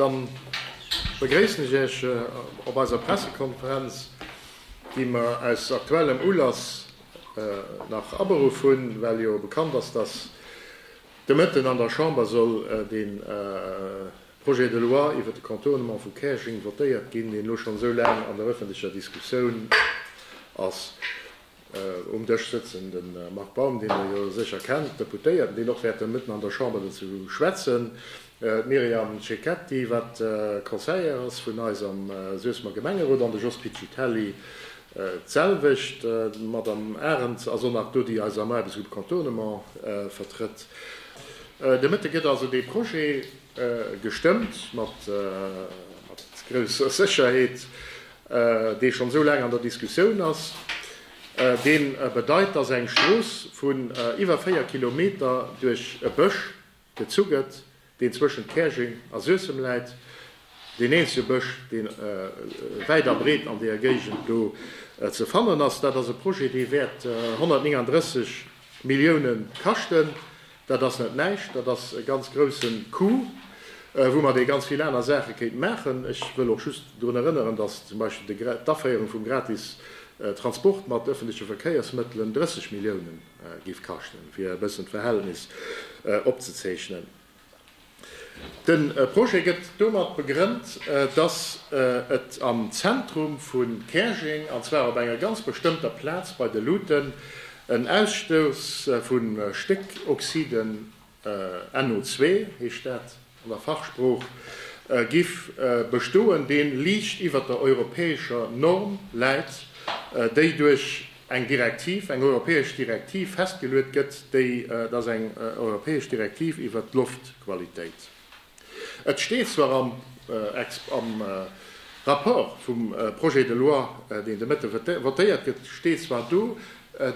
Dann begréissen ech Iech op eiser Pressekonferenz, déi mer aus aktuellem Ulass nach aberuff hunn, well jo bekannt ass, dass de Mëtten an der Chamber soll de Projet de loi iwwert de Contournement vu Käerjeng votéiert ginn, deen elo schonn esou laang an der öffentlecher Diskussioun ass. Um Dësch sëtzen de Marc Baum, dee Der jo sécher kennt, Deputéierten, deen och wäerte mëtten an der Chamber dozou schwätzen, d'Myriam Cecchetti, wat Conseillère ass vun eis am Suessemer Gemengerot, an de Jos Piccitelli, d'selwecht. D'Madame Arens ass och nach do, déi eis am Aarbechtsgrupp Contournement vertrëtt. De Mëtte gëtt also dee Projet gestëmmt, mat grousser Sécherheet. dee schonn esou laang an der Diskussioun ass, dee bedeit, dass eng Strooss vun iwwer 4 Kilometer duerch e Bësch gezu gëtt, deen zwëschent Käerjeng a Suessem läit, deen eenzege Bësch, dee wäit a breet an deeër Géigend do ze fannen ass. Dat ass e Projet, dee wäert 139 Milliounen kaschten. Dat ass net näischt, dat ass e ganz grousse Coup, wou mer dee ganz vill aner Saache kéinten maachen. Ech wëll och just drun erënneren, dass zum Beispill d'Aféierung vum gratis Transport mat öffentliche Verkéiersmëttelen 30 Milliounen géif kaschten, fir e bëssen d'Verhältnis opzezeechnen. De Projet gëtt domat begrënnt, dass et am Zentrum vu Käerjeng, an zwar op enger ganz bestëmmter Plaz bei de Luuten, en Ausstouss vu Stéckoxiden, NO2 heescht dat an der Fachsprooch, giff bestoen, deen liicht iwwert der europäescher Norm läit, déi duerch eng Direktiv, eng europäesch Direktiv festgeluet gëtt, déi, et ass eng europäesch Direktiv iwwert d'Loftqualitéit. Et steet zwar am am Rapport vum Projet de loi, deen de Mëtte votéiert gëtt, steet zwar do,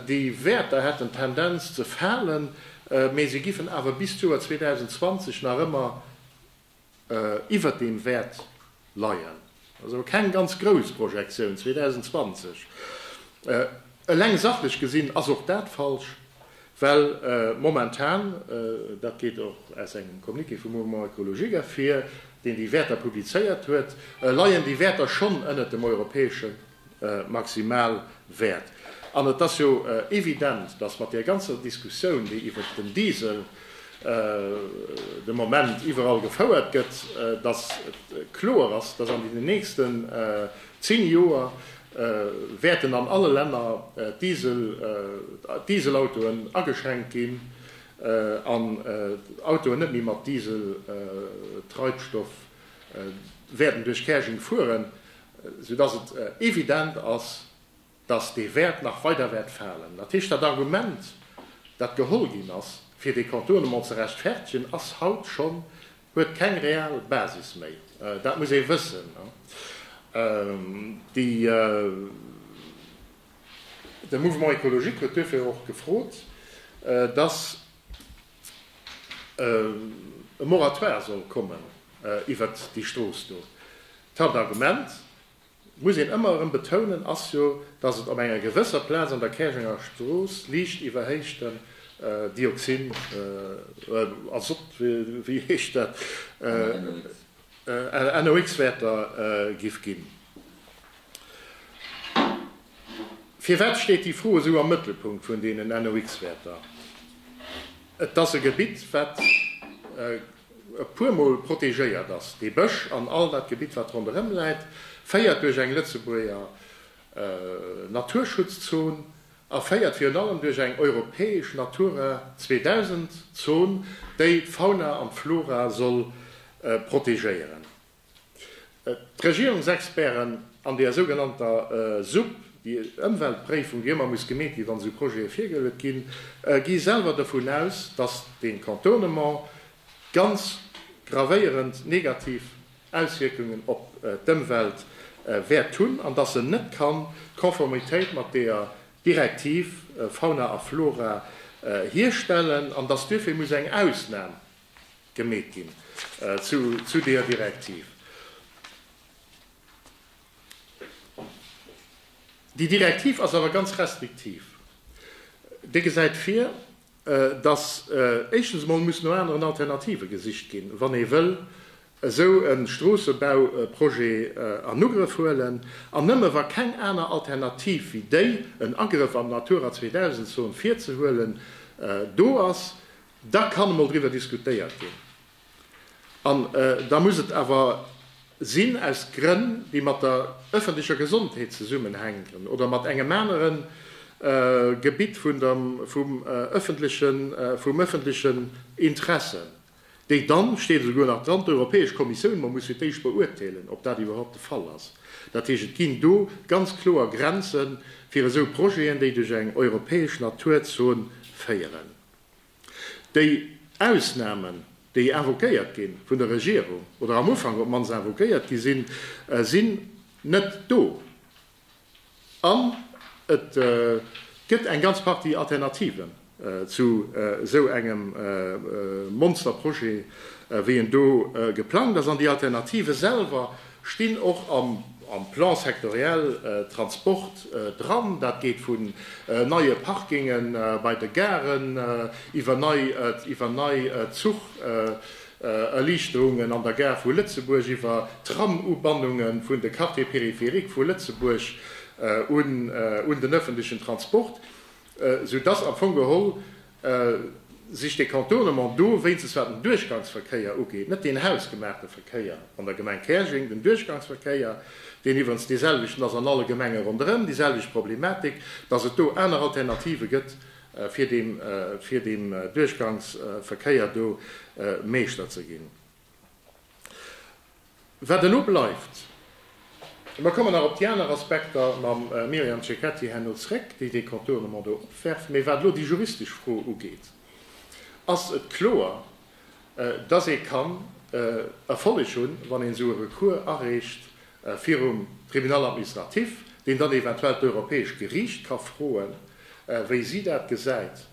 déi Wäerter hätten d'Tendenz ze falen, mä se giffen awer bis d'Joer 2020 nach ëmmer, iwwert deem wäert leien, ass awer keng ganz grouss Projektioun 2020. Eleng sachlech gesinn ass och dat falsch, well momentan, dat geet och aus engem Communiqué vum Mouvement écologique ervir, deen déi Wäerter publizéiert huet, leien déi Wäerter schonn ënnert dem europäesche maximal wäert. An et ass jo evident, dass mat där ganzer Diskussioun, déi iwwert den Diesel de Moment iwwerall gefouert gëtt, dass et kloer ass, dass an deenen nächsten zéng Joer wäerten an alle Länner d'Dieselautoen ageschränkt ginn an d'Autoen net méi mat Dieseltreibstoff wäerten duerch Käerjeng fueren. sou dass et evident ass, dass dee Wäert nach weider wäert falen. Dat heescht, dat Argument, dat geholl ginn ass, fir dee Contournement ze rechtfertegen, ass haut schonn, huet keng real Basis méi. Dat muss ee wëssen. De Mouvement écologique huet duerfir och gefrot, dass. e Moratoire soll kommen iwwert déi Strooss do. D'Haaptargument, muss een ëmmer erëm betounen, ass jo, datt et op enger gewësser Plaz an der Käerjenger Strooss liicht iwwerhéichten Dioxin, Azott, wéi heescht dat, NOx, Wäerter géif ginn. Firwat steet déi Fro esou am Mëttelpunkt vun deenen NOx-Wäerter? Et ass e Gebitt, wat e puermol protegéiert ass. Dee Bësch an all dat Gebitt, wat ronderëm läit, féiert duerch eng Lëtzebuerger Naturschutzzon a féiert virun allem duerch eng europäesch Natura 2000-Zon, déi d'Fauna an d'Flora soll protegéieren. D'Regierungsexperten an deer sougenannter Supp, déi Ëmweltpréifung, déi ëmmer muss gemeet ginn, wann esou Projete virgeluet ginn, gi selwer dovun aus, datt dee Contournement ganz gravéierend negativ Auswierkungen op d'Ëmwelt wäert hunn an datt en net kann d'Konformitéit mat deer Direktiv Fauna a Flora hierstellen an datt duerfir muss eng Ausnam gemeet ginn zu deeër Direktiv. Déi Direktiv ass awer ganz restriktiv. Déi gesäit vir, dass éischtens emol muss no aneren Alternative gesicht ginn, wann ee wëll esou e Stroossebauprojet an Ugrëff huelen, an nëmme wa keng aner Alternativ wéi déi, en Agrëff an d'Natura 2000 Zon virzehuelen, do ass, Da kann emol driwwer diskutéiert ginn. An da muss et awer sinn aus Grënn, déi mat der öffentlecher Gesondheet zesummenhänken oder mat engem anere Gebitt vum öffentlechen Interesse, déi dann, et steet esouguer nach dran, d'Europäesch Kommissioun emol musse fir d'éischt beuerteelen, ob dat iwwerhaupt de Fall ass. Dat heescht, et ginn do ganz kloer Grenze fir esou Projeten, déi duerch eng europäesch Naturzon féieren. Déi Ausnahmen, déi invoquéiert gi vun der Regierung, oder am Ufank op d'mannst invoquéiert gi sinn, sinn net do. An et gëtt eng ganz Partie Alternativen zu esou engem Monsterprojet, wéi en do geplangt ass. An déi Alternative selwer stinn och am Plan sectoriel Transport dran. Dat geet vun neie Parkinge bei de Garen, iwwer nei Zucherliichterungen an der Gare vu Lëtzebuerg, iwwer Tramubannunge vun de Quartier périphérique vu Lëtzebuerg un den ëffentlechen Transport, soudass am Fong geholl Sich de Contournement do, wéinstens wat den Duerchgangsverkéier ugeet, net deen hausgemaachte Verkéier an der Gemeng Käerjeng, den Duerchgangsverkéier, deen iwwerens deeselwechten ass an alle Gemenge ronderëm, déi selwecht Problematik, dass et do aner Alternative gëtt, fir deem Duerchgangsverkéier do Meeschter ze ginn. Wat elo bleift, mer kommen nach op déi aner Aspekter mam Myriam Cecchetti herno zréck, déi dee Contournement do opwerft, mee wat elo déi juristesch Fro ugeet, ass et kloer, dass ee kann Erfolleg hunn, wann een esou e Recours areecht, virum Tribunal administratif, deen dann eventuell d'Europäescht Geriicht ka froen, wéi si dat gesäit,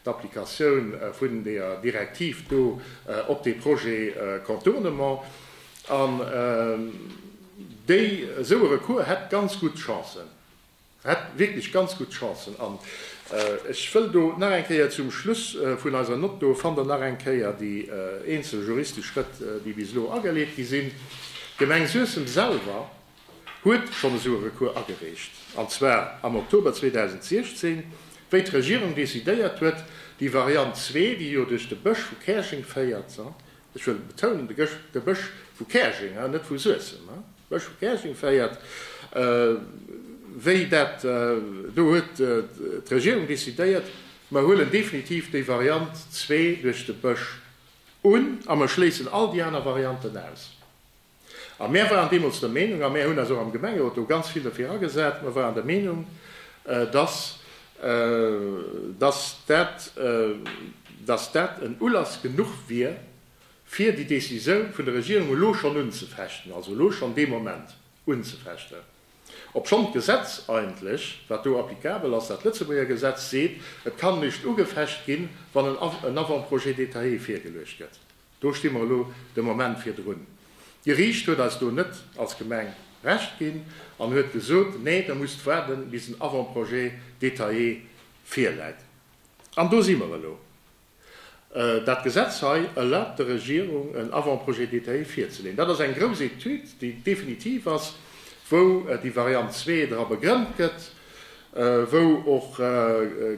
d'Applikatioun vun deeër Direktiv do op dee Projet Contournement. An déi, esou e Recours hätt ganz gutt Chancen. Hätt wierklech ganz gutt Chancen. An ech wëll do nach eng Kéier zum Schluss vun eiser Nott, do fannt Der nach eng Kéier déi eenzel juristesch Schrëtt, déi bis elo ageleet gi sinn. D'Gemeng Suessem selwer huet schonn esou e Recours agereecht, an zwar am Oktober 2016, wéi d'Regierung decidéiert huet, déi Variant zwee, déi jo duerch de Bësch vu Käerjeng féiert, Ech wëll betounen, de Bësch vu Käerjeng, net vu Suessem, de Bësch vu Käerjeng féiert, wéi dat do huet d'Regierung decidéiert, mer huelen definitiv déi Variant zwee duerch de Bësch un a mer schléissen all déi aner Varianten aus. A mär waren deemools der Meenung, a mär hunn eis och am Gemengerot do ganz vill dofir agesat, mer waren der Meenung, dass, dass dat, dass dat en Ulass genuch wier, fir déi Décisioun vun der Regierung elo schonn unzefechten, also elo schonn dee Moment unzefechten, obschonn d'Gesetz eigentlech, wat do applicabel ass, dat Lëtzebuerger Gesetz, seet, et kann nischt ugefecht ginn, wann en Avant-projet détaillé virgeluecht gëtt. Do sti mer elo de Moment virdrun. D'Geriicht huet eis do net als Gemeng Recht ginn an huet gesot, nee, der musst waarden, bis en Avant-projet détaillé virläit. An do si mer elo. Dat Gesetz hei erlaabt der Regierung, en Avant-projet détaillé virzeleeën. Dat ass eng grouss Etüd, déi definitiv ass, wou déi Variant zwee dra begrënnt gëtt, wou och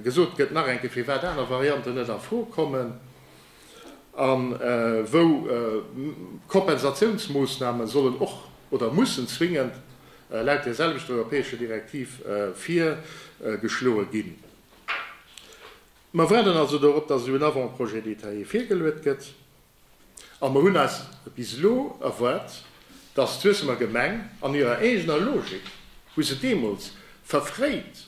gesot gëtt nach eng Kéier, firwat aner Varianten net a Fro kommen. a wou Kompensatiounsmoossname sollen och oder mussen zwingend laut där selwechter europäescher Direktiv virgeschloe ginn. Mer waarden also dorop, dass elo en Avant-projet détaillé virgeluet gëtt, a mer hunn eis bis elo erwaart, dass d'Suessemer Gemeng an hirer eegener Logik, wou se deemools verfréit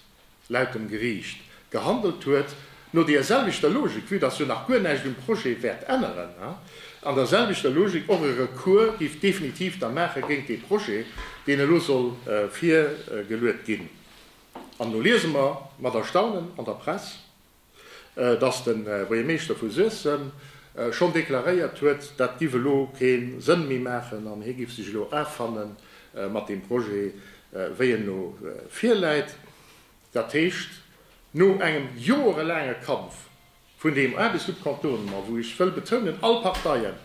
laut dem Geriicht, gehandelt huet, no deer selwechter Logik, vue dass jo nach guer näischt um Projet wäert änneren, an der selwechter Logik och e Recours géif definitiv da maache géint dee Projet, deen elo soll virgeluet ginn. An elo liese mer mat Erstaunen an der Press, dass de Buergermeeschter vu Suessem schonn deklaréiert huet, dat giff elo kee Sënn méi maachen an hie giff sech elo affanne mat deem Projet, wéi en elo virläit. Dat heescht, no engem joerelaange Kampf vun deem Aarbechtssubkontournement, wou ech wëll betounen, all Parteien,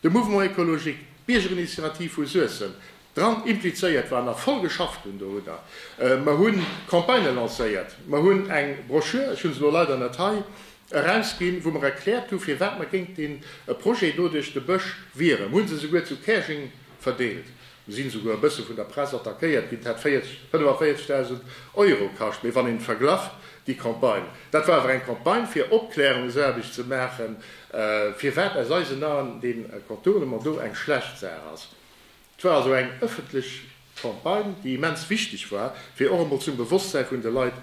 de Mouvement écologique, d'Biergerinitiativ vu Suessem, Dran implizéiert waren a voll geschafft hunn. Do hutt Der. Mer hu Campagnë lancéiert. Mer hunn eng Broschür, ech hu se elo leider net hei, erausginn, wou mer erkläert hu firwat mer géint dee Projet do duerch de Bësch wieren. Mer hu se esouguer zu Käerjeng verdeelt. Mer sinn esouguer e bësse vun der Press attackéiert ginn. Dat hätt 40, 45.000 Euro kascht. Mee wann een verglach déi Campagne, dat war awer eng Campagne fir Opklärungsaarbecht ze maachen, firwat aus eisen Aen dee Contournement do eng schlecht Saach ass. Et war also eng ëffentlech Campagne, déi immens wichteg war, fir och emol zum Bewosstsäi vun de Leit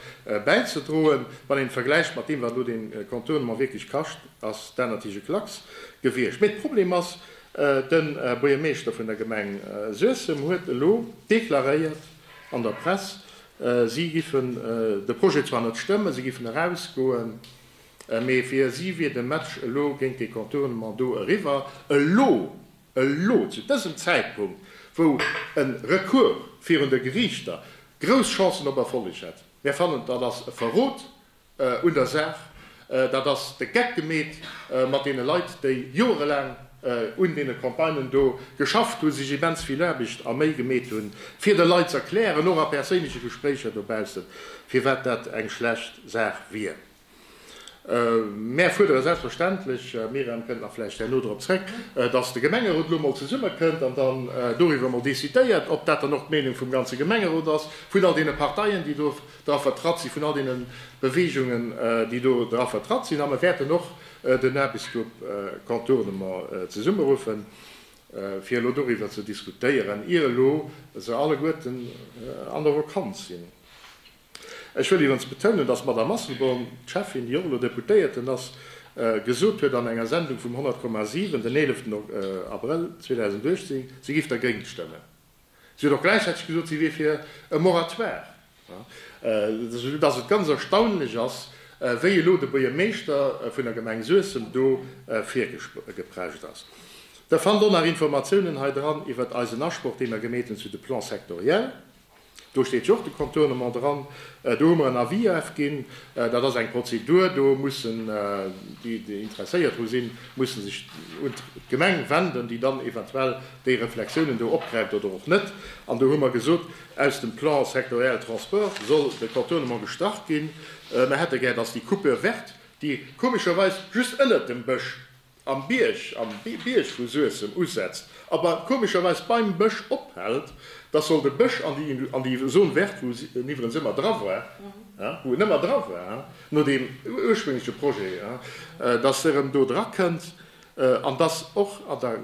bäizedroen. Wann een et vergläicht mat deem, wat elo dee Contournement wierklech kascht, ass dat natierlech e Klacks gewiescht. Mee de Problem ass, De Buergermeeschter vun der Gemeng Suessem huet elo deklaréiert an der Press, si giffen de Projet zwar net stëmmen, si giffen erausgoen, mee fir si wier de Match elo géint dee Contournement do eriwwer. Elo Elo zu dësem Zäitpunkt, wou e Recours virun de Geriichter grouss Chancen op Erfolleg hätt. Mär fannen, dat ass e Verrot un der Saach, dat ass de Geck gemeet mat deene Leit, déi joerelaang un deene Campagnen do geschafft hunn, sech immens vill Aarbecht a Méi gemeet hunn, fir de Leit z'erklären, och a perséinleche Gespréicher dobaussen, firwat dat eng schlecht Saach wier. Mär fuerdere selbstverständlech, d'Myriam kënnt nach vläicht herno drop zrëck, dass de Gemengerot elo emol zesummekënnt an dann doriwwer emol decidéiert, ob dat dann och d'Meenung vum ganze Gemengerot ass, vun all deene Parteien, déi do dra vertratt sinn, vun all deene Beweegungen, déi do dra vertratt sinn. A mer wäerten och den Aarbechtsgrupp Contournement zesummeruffen, fir elo doriwwer ze diskutéieren, ier elo se alleguerten an der Vakanz sinn. Ech wëll iwwerens betounen, dass d'Madamm Asselborn, d'Schäffin, déi och elo Deputéierten ass, gesot huet an enger Sendung vum 100,7 den 11 Abrëll 2018, si géif dergéint stëmmen. Si huet och gläichzäiteg gesot, si wier fir e Moratoire, soudass et ganz erstaunlech ass, wéi elo de Buergermeeschter vun der Gemeng Suessem do virgeprescht ass. Der fannt och nach Informatiounen hei dran iwwert eisen Asproch, dee mer gemeet hunn zu de Plans sectoriels. Do steet jo och de Contournement dran. Do hu mer en Avis ofginn. Dat ass eng Prozedur. Do mussen déi, déi interesséiert dru sinn, mussen sech un d'Gemeng wenden, déi dann eventuell déi Reflexiounen do opgräift oder och net. An do hu mer gesot, aus dem Plan sectoriel transport soll de Contournement gestrach ginn. Mer hätte gär, dass déi Coupure verte, déi komescherweis just ënnert dem Bësch Am Bierg, am Bierg wou Suessem usetzt, awer komescherweis beim Bësch ophält, dass soll de Bësch an déi an déi Zone verte wou en iwwerens ëmmer dra war, wou en ëmmer dra war no deem urspréngleche Projet, dass e rëm do dra kënnt an dass och an der.